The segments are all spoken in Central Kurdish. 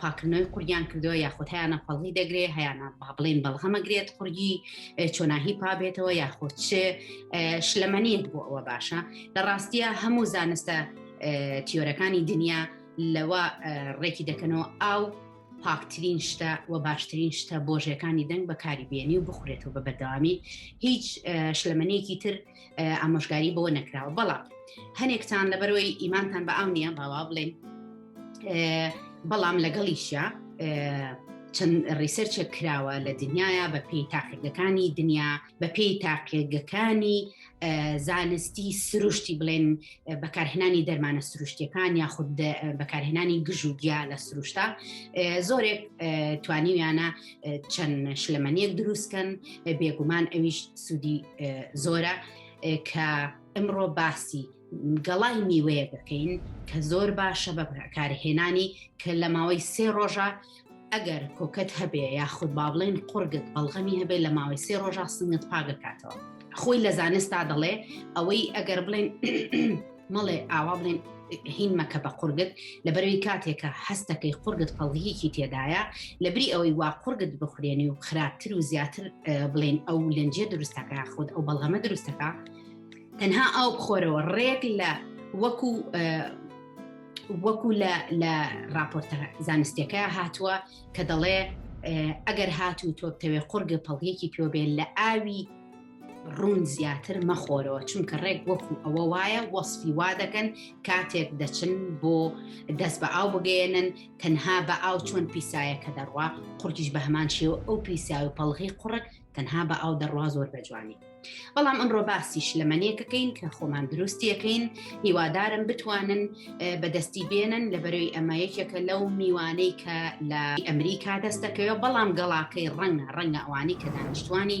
پاکردنەوەی قوریان کردەوە یاخود هەیانە پەڵی دەگرێ هەیانە با بڵین بەڵغەمەگرێت قوری چۆناهی پابێتەوە یاخود چ شلەمەنیت بۆ ئەوە باشە لە ڕاستیە هەموو زانستە تیۆرەکانی دنیا لەوە ڕێکی دەکەنەوە ئاو پاکترین شتە و باشترین شتە بۆژەکانی دەنگ بەکاری بێنی و بخورێتەوە بە بەردەوامی هیچ شلەمەنێکی تر ئامۆژگاری بۆ نەکراوە بەڵام هەنێکتان لەبەرەوەی ئیمانتان بە ئاو نییە باوا بڵێن بەڵام لەگەڵیشە چەند ڕیسەرچێک کراوە لە دنیاە بە پێی تاقیگەکانی دنیا بە پێی تاقیگەکانی زانستی سروشتی بڵێن بەکارهێنانی دەرمانە سروشتەکان یاخود بەکارهێنانی گژوگیا لە سروشتا زۆرێک توانیویانە چەند شلەمەنیەک دروستکەن بێگومان ئەویش سوودی زۆرە کە ئەمڕۆ باسی گەڵای میوەیە دەکەین کە زۆر باشە بە کارهێنانی کە لە ماوەی سێ ڕۆژە ئەگەر کۆکەت هەبێ یاخود با بڵێن قڕگت بەڵغەمی هەبێ لە ماوەی سێ ڕۆژە سنگت پاگەکاتەوە خۆی لە زانستا دەڵێ ئەوەی ئەگەر بڵێن مەڵێ ئاوا بڵێن هین مەکە بە قورگت لەبەرەوەی کاتێکە هەستەکەی قورگت پەڵگیەکی تێدایە لەبری ئەوەی وا قورگت بخورێنی و خراپتر و زیاتر بڵێن ئەو لەنجێ دروستەکە خۆت ئەو بەڵغەمە دروستەکە تەنها ئەو بخۆرەوە ڕێک لە وەکو وەکو لە راپۆرتە زانستەکە هاتووە کە دەڵێ ئەگەر هاتوو تۆبتەوێ قورگە پەڵگێکی پێوە بێن لە ئاوی ڕون زیاتر مەخۆرەوە چونکە ڕێک وەکو ئەوە وایە وەسفی وا دەکەن کاتێک دەچن بۆ دەست بە ئاو بگەێنن تەنها بە ئاو چۆن پیسایە کە دەڕوا قورتیش بە هەمان شێوە ئەو پیسا و پەڵغی قوڕک تەنها بە ئاو دەڕوا زۆر بە جوانی بەڵام ئەمڕۆ باسیش لەمەنیەکەکەین کە خۆمان دروستیەکەین هیوادارم بتوانن بەدەستی بێنن لە بەرەوەی ئەمە یەکێکە لەو میوانەی کە لە ئەمریکا دەستەکەەوە بەڵام گەڵاکەی ڕەنگە ڕەنگە ئەوانی کە دانیشتوانی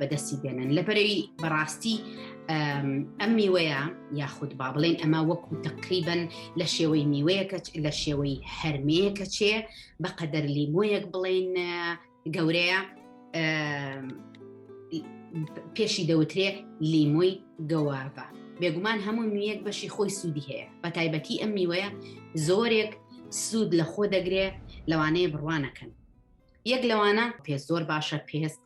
بەدەستی بێنن لەبەرەوی بەڕاستی ئەم میوەیە یاخود با بڵێن ئەمە وەکو تقریبن لە شێوەی میوەیەکە لە شێوەی هەرمەیەکە چێ بە قەدەر لیمۆیەک بڵێن گەورەیە پێشی دەوترێ لیمۆی گەوابە بێگومان هەموو میەک بەشی خۆی سوودی هەیە بە تایبەتی ئەم میوەیە زۆرێک سوود لە خۆ دەگرێ لەوانەیە بڕوانەکەن یەک لەوانە پێست زۆر باشە پێست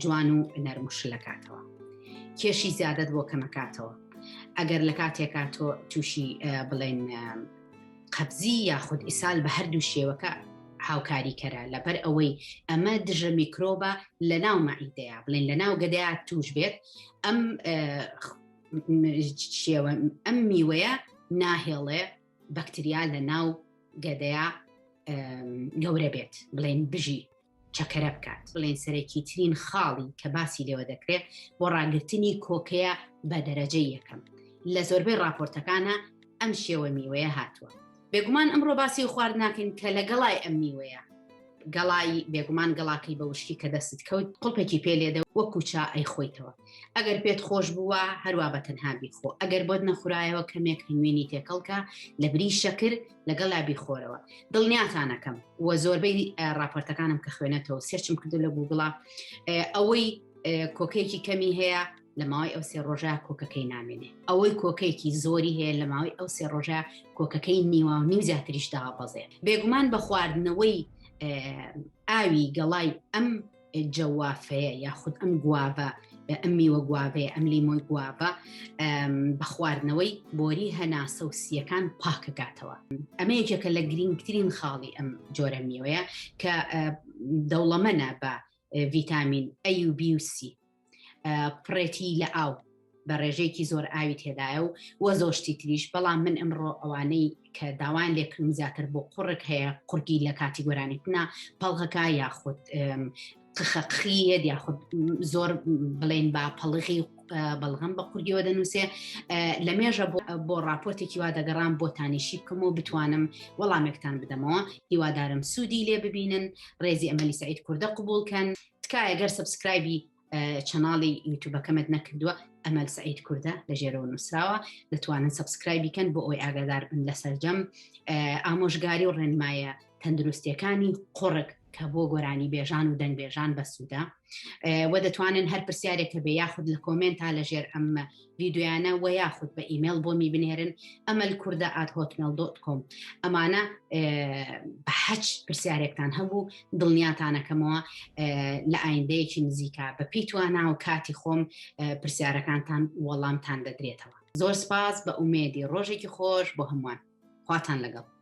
جوان و نەرمشلەکاتەوە کێشی زیادت بۆ کەمەکاتەوە ئەگەر لە کاتێکا تۆ تووشی بڵێن قەبزی یاخود ئیسال بە هەردوو شێوەکە هاوکاری کەرە لەبەر ئەوەی ئەمە دژە میکرۆبە لە ناو مەعیدەیە بڵێن لە ناو گەدەیا توش بێت ئەم شێوە ئەم میوەیە ناهێڵێ بەکتریا لە ناو گەدەیا گەورە بێت بڵێن بژی چەکەرە بکات بڵێن سەرەکی ترین خاڵی کە باسی لێوە دەکرێت بۆ ڕاگررتنی کۆکەیە بە دەرەجە یەکەم لە زۆربەی راپۆرتەکانە ئەم شێوە میوەیە هاتووە بێگومان ئەمڕۆ باسی خوارد ناکەین کە لە گەڵای ئەم میوەیە گەڵای بێگومان گەڵاکەی بە وشکی کە دەست کەوت قڵپێکی پێ لێدە وەکو چا ئەی خۆیتەوە ئەگەر پێت خۆش بووە هەروە بە تەنها بیخۆ ئەگەر بۆت نەخورایەوە کەمێک هەنوێنی تێکەڵکە لە بری شەکر لەگەڵا بیخۆرەوە دڵنیاتانەکەم و زۆربەی راپۆرتەکانم کە خوێنێتەوە سێرچم کردو لە گوگڵا ئەوەی کۆکەیەکی کەمی هەیە لە ماوەی ئەو سێ ڕۆژە کۆکەکەی نامێنێ ئەوەی کۆکەیەکی زۆری هەیە لە ماوەی ئەو سێ ڕۆژە کۆکەکەی نیوە و نیو زیاتریش داوابەزێ بێگومان بە خواردنەوەی ئاوی گەڵای ئەم جەوافەیە یاخود ئەم گوابە ئەم میوە گوابەیە ئەم لیمۆی گوابە بە خواردنەوەی بۆری هەناسە و سیەکان پاکەکاتەوە ئەمە یەکێکە لە گرنگترین خاڵی ئەم جۆرە میوەیە کە دەوڵەمەە بە ڤیتامین ئەی و بیوسی پڕێتی لە ئاو بە ڕێژەیەکی زۆر ئاوی تێدایە و وە زۆشتی تریش بەڵام من ئەمڕۆ ئەوانەی کە داوایان لێکردم زیاتر بۆ قڕک هەیە قورگی لە کاتی گۆرانیتنا پەڵغەکە یاخود قخەقخیەت یاخود زۆر بڵێن با پەڵغی بەڵغم بە قورگیەوە دەنووسێ لە مێژە بۆ راپۆرتێکی وا دەگەڕام بۆ تانیشی بکەم و بتوانم وەڵامێکتان بدەمەوە هیوادارم سوودی لێ ببینن ڕێزی ئەمەلی سعید کوردە قوبولکەن تکایە گەر سبسکرایبی چەناڵی یوتوبەکەمت نەکردووە ئەمەل سعید کووردە لە ژێرەوە نووسراوە دەتوانن سبسکرای بکەن بۆ ئەوی ئاگادار بن لە سەرجەم ئامۆژگاری و ڕێنمایە تەندروستیەکانی قڕک کە بۆ گۆرانی بێژان و دەنگبێژان بەسوودە و دەتوانن هەر پرسیارێکە بێ یاخود لە کۆمنتا لە ژێر ئەم ڤیدۆیانە وە یاخود بە ئیمێل بۆمی بنێرن ئەمەل کووردە ئات هۆتمێل دۆت کۆم ئەمانە بە حەچ پرسیارێکتان هەبوو دڵنیاتانەکەمەوە لە ئایندەیەکی نزیکە بە پێی توانە و کاتی خۆم پرسیارەکانتان وەڵامتان دەدرێتەوە زۆر سپاس بە ئومێدی ڕۆژێکی خۆش بۆ هەمووان خواتان لەگەڵ